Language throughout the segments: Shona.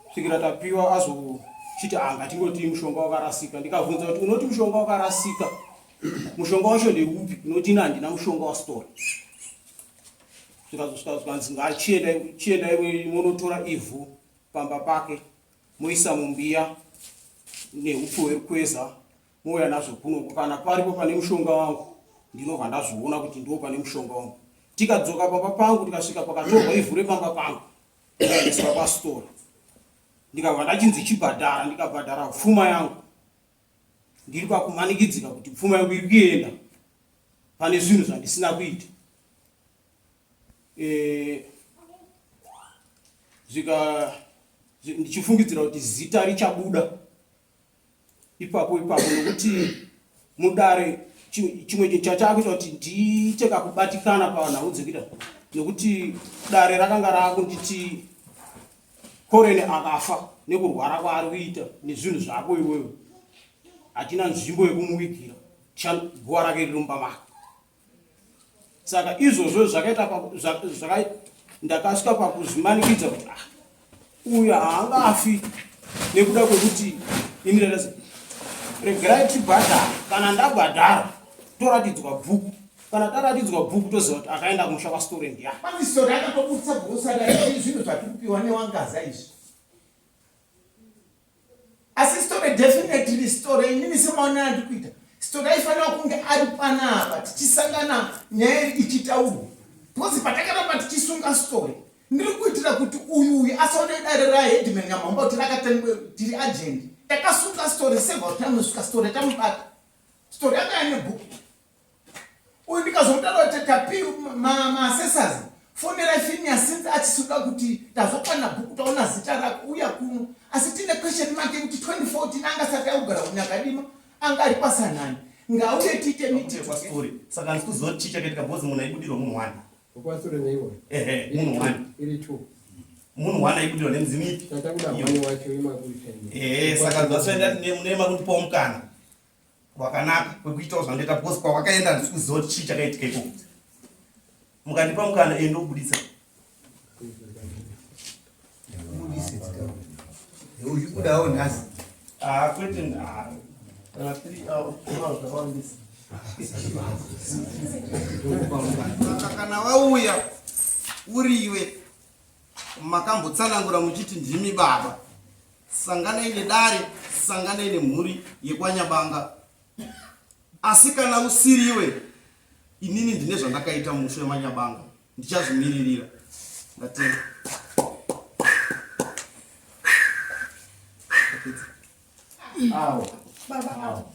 kusvikira tapiwa azochiti ah ngatingoti mushonga wakarasika ndikabvunza kuti unoti mushonga wakarasika mushonga wacho ndeupi unoti ini handina mushonga wasitora zvikazosvika zvikanzi ngachienda iwe monotora ivhu pamba pake moisa mumbiya neupfu hwerukweza mouya nazvo kunoko kana paripo pane mushonga wangu ndinobva ndazviona kuti ndo pane mushonga wangu tikadzoka pamba pangu tikasvika pakatorwa ivhu repamba pangu ndikaendeswa pasitoro ndikabva ndachinzi chibhadhara ndikabhadhara pfuma yangu ndiri pakumanikidzika kuti pfuma yangu iri kuenda pane zvinhu zvandisina kuita eh, zvika ndichifungidzira kuti zita richabuda ipapo ipapo nokuti mudare chimwe chachaakuita kuti ndiite kakubatikana pavanhau dzekuita nokuti dare rakanga raakunditi korene akafa nekurwara kwaari kuita nezvinhu zvako iwewe hatina nzvimbo yekumuvigira guva rake riri mumba mako saka izvozvo zvakaita ndakasvika pakuzvimanikidza kuti ah, uyu haangafi nekuda kwekuti ini ndadasi regerai tibhadhara kana ndabhadhara toratidzwa bhuku kana taratidzwa bhuku toziva kuti akaenda kumusha kwasitore ndiya pane sori akatobudisa bhuku saka zvinhu zvatikupiwa newangaza izvi asi story definitely story inini semaonera ndi kuita story aifanira kunge ari panapa tichisangana nyaya ichitaurwa because patakaramba tichisunga story ndiri kuitira kuti uyu uyu asaone dare raheadman nyamhomba kuti rakatengwe tiri agent takasunga story sevakuti anosvika story tamubata story akaya nebook uyu ndikazomutarira kuti tapi maasesazi fonera finia since achisuda kuti tazokwana bhuku taona zita rako uya kuno asi tine question make kuti 2014 anga sati akugara kunyakadima anga ari kwasanani ngauye tiite mitikwastori saka ndikuziva kuti chichake ndikabhozi munhu aibudirwa munhu wani kwastori neiwe ehe munhu wani iri two munhu wani aibudirwa nemudzimu ipi tatakuda mwana wacho imakuitendehe saka zvasoenda nemakundipawo mukana kwakanaka kwekuitawo zvandoita because kwawakaenda handisi kuziva kuti chii chakaitika ikoko mukandipa mukana ende ubudisa uchibudawo nhasi ah, kwete ah, kana three hours zvakawandisa kana wauya uriwe makambotsanangura muchiti ndimi baba sanganai nedare sanganai nemhuri yekwanyabanga asi kana usiriwe inini ndine zvandakaita musho yemanyabanga ndichazvimiririra ndatenda awo baba awo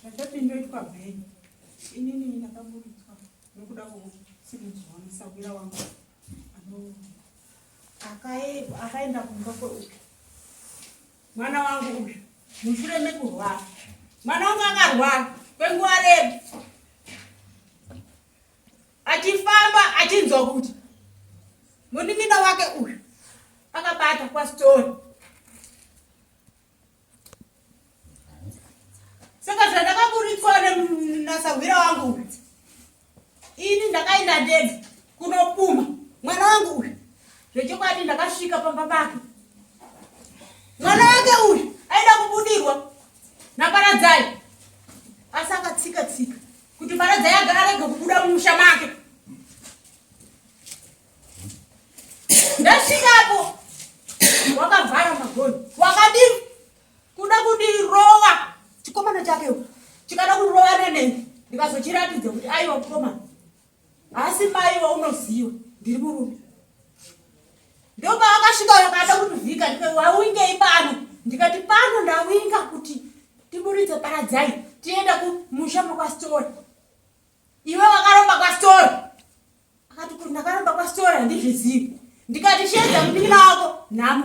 Zvandati ndoitwa bheni inini ndakaburitswa nokuda kwokusimudzwa musahwira wangu akaenda kumba kweuyu mwana wangu uyu mushure mekurwara mwana wangu akarwara kwenguva redu achifamba achinzwa kuti munin'ina wake uyu akabata kwasitori saka zvandakaburitswa nasahwira wangu ini ndakaenda ndega kunopuma mwana wangu uyu zvechokwadi ndakasvika pamba pake mwana wake uyu aida kubudirwa naparadzai asi akatsika tsika kuti paradzai agarege kubuda mumusha make ndasvikapo wakavhara magoni wakadi kuda kundirova chikomana chake chikada kundirova nenei ndikazochiratidza kuti aiwa mukomana haasi mai waunoziva ndiri murume ndopaakasvika wakada kutivhika waungei pano ndikati pano ndawinga kuti tiburitse paradzai tienda kumusha mwakwasitori iwe wakaromba kwasitori Akati kuti ndakaramba kwasitora handizvizivi ndikati shedza mupinda wako nhamo